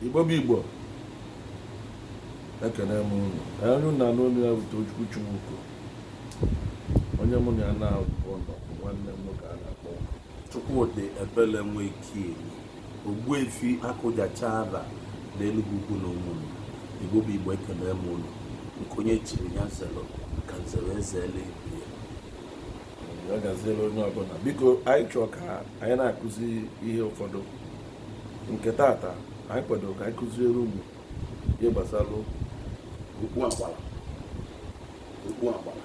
igbo bụ igbo ekene m unu onye unu na-anụ olu ya bụ te ojukwu chimụko onye mụ na ya naabọ nọ bụ nwanne m nwoke a na-akpọ chukwudiebele nweke ogbuefi akụjachara na enugwu ukwu na ụmụnri igbo bụ igbo ekene m unu nke onye chiri ya zelu ka nzere eze eluigwe ya gaziere onye ọbụla biko anyị chọọ ka anyị na-akụzi ihe ụfọdụ nke tata anyị kwadoro ka anyị kụziere unu ihe gbasara okpu agbara okpu agbara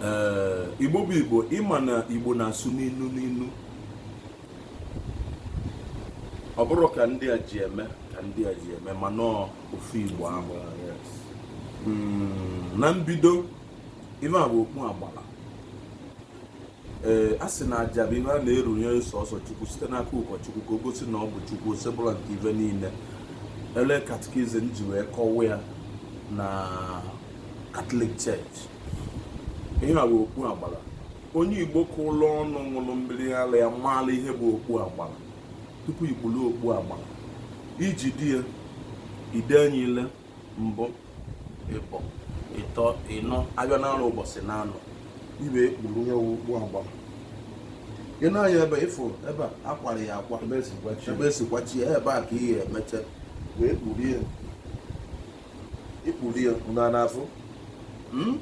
ee igbo bụ igbo ịma na igbo na-asụ n'inu n'inu ọ bụrọ ka ndị a ji eme ka ndị a ji eme mana ọ ofu igbo ahụ hmm, na mbido ife a bụ okpu agbara ee a sị na aja bụ ihe a na-erunye sọsọ chukwu site n'aka ụkọchukwu ka o gosi na ọ bụ chukwu osebụlụwa nke ife niile ele katikizim ji wee kọwa ya na catholic church ihe a bụ okpu agbara onye igbo ka ụlọ ọnụ ṅụrụ mmiri ara ya maara ihe bụ okpu agbara tupu i kpuru okpu agbara i jide ya i lee anya ile mbụ ịbọ ịtọ ịnọ ahịa naanọ ụbọchị naanọ i wee kpuru ya okpu agbara i nee anya ebe ị fụ ebe a kwara ya akwa ebe e si kwachie ebe a ka ị ya-emecha wee kpuru i kpuru ya na n'afọ hmm?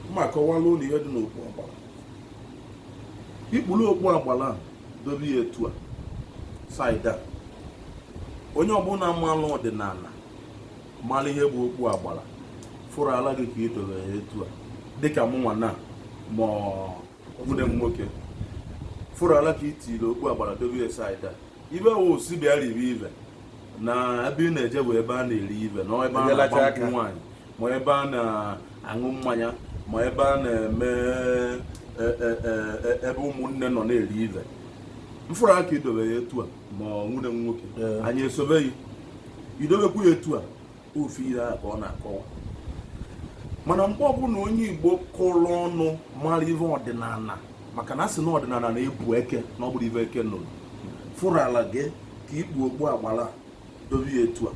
m ma-akọwara unu ihe dị n'okpu agbara i kpuru okpu agbara dobe ya etu a side a onye ọbụla maara ọdịnala mara ihe bụ okpu agbara fụrụ ala gị ka i dobe ya etu a dịka mụnwa na ma nwanne m nwoke fụrụ ala ka i tiri okpu agbara dobe ya side a ife ọ wụ sị bịa ribe ife na ebe ị na-eje bụ ebe a na-eri ife na ebe a na-agba nkwụ nwaanyị ma ebe a na-aṅụ mmanya ma ebe a na-eme e, e, e, ebe ụmụnne nọ na-eri ife m fụrụ ka i dobe ya etu a ma nwanne m nwoke anyị esobe ya i dobekwu ya etu a ofu ihe a ka ọ na-akọwa mana mgbe ọbụla onye igbo kụrụ ọnụ mara ihe ọdịnala maka na a sị na ọdịnala na-ebu eke na ọ bụrọ ife eke nụrụ fụrụ ala gị ka i kpu okpu agbara dobe ya etu a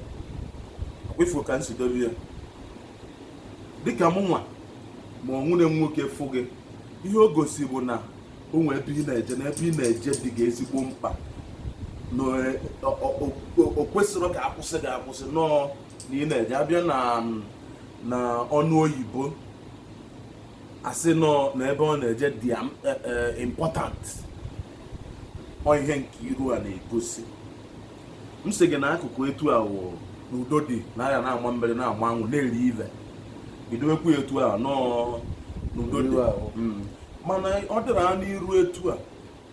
kwa ị fụ ka m si dobe ya dịka mụ nwa ma ọ nwanne m nwoke fụ gị ihe o gosi bụ na o nwee ebe ị na-eje na ebe ị na-eje dị gị ezigbo mkpa na e, o kwesirọ ka a kwụsị gị akwụsị nọọ na ị na-eje a bịa na na ọnụ oyibo a sị nọ na ebe ọ na-eje dị e, e, important ọ ihe nke iru a na-egosi m sị gị na akụkụ etu a wụ na udo dị na agha na-agba mmiri na-agba aṅụ na-eri ive i dowekwu ya etu a nọọ n'udo dị Iwe ahụ. Mm. mana ọ dịrị ya n'iru etu a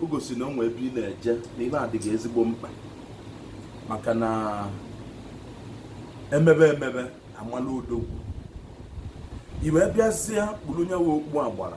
o gosi na o nwee ebe ị na-eje na ebe a dị gị ezigbo mkpa maka na e mebe emebe a mala odogwu i wee bịazie kpuru nya wụ okpu agbara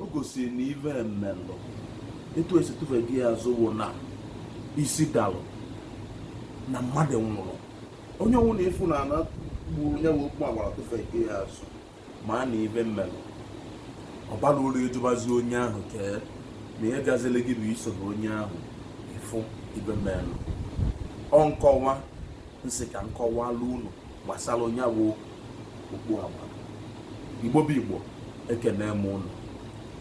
o gosiri na ive melụ etu e si tụfe gị azụ wụ na isi dalụ na mmadụ nwụrụ onye ọwụna ị fụ na ana kpuru nya bụ okpu agbara tụfe gị azụ maa na ive melụ ọ barọ uru ịjụbazi onye ahụ kee na ihe gazili gị bụ isoro onye ahụ ị fụ ive melụ ọ nkọwa m sị ka m kọwalụ unu gbasara nya bụ okpu agbara Igbo bụ Igbo ekene m unu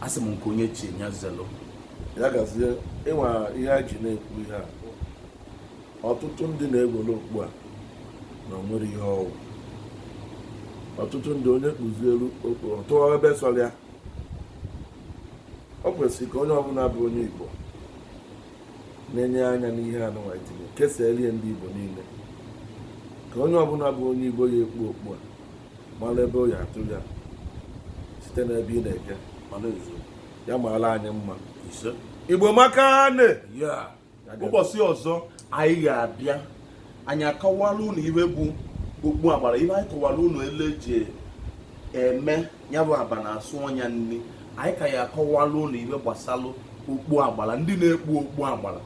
asị m nke onye chi nya zelu ya gazie ịnwa ihe e ji na-ekwu ihe a ọtụtụ ndị na-egwere okpu a na o nwere ihe ọ wụ ọtụtụ ndị onye kpuzielu okpu ọ tụọ ebe sọrọ ya o kwesịrị ka onye ọbụla bụ onye Igbo na-enye anya n'ihe anụnwa itinye kesaalụ ndị Igbo niile ka onye ọbụla bụ onye Igbo ya ekpu okpu a mara ebe ọ ya-atụ ya site n'ebe ị na-eje mana ezie ya maara anyị mma ise Igbo maka na ụbọchị ọzọ anyị ga-abịa anyị akọwala unu ihe bụ okpu agbara ihe anyị kọwara unu ebe e ji eme ya bụ aba na-asụ ọnya nri anyị ka ya-akọwalụ unu ive gbasalụ okpu agbala ndị na-ekpu okpu agbala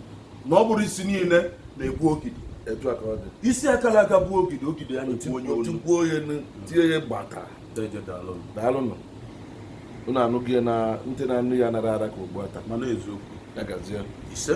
na ọ bụrọ isi niile na-ekpu ogidi etu a ka ọ dị isi kara aka bụ ogidi ogidi ya na-ekwu onye olu otikwuo onye nụ, tie ya gbata Deje daalụ. daalụnụ unu anụghị ya na ntị na anụ ya nara ara ka ogbu ata mana eziokwu ya gazie ise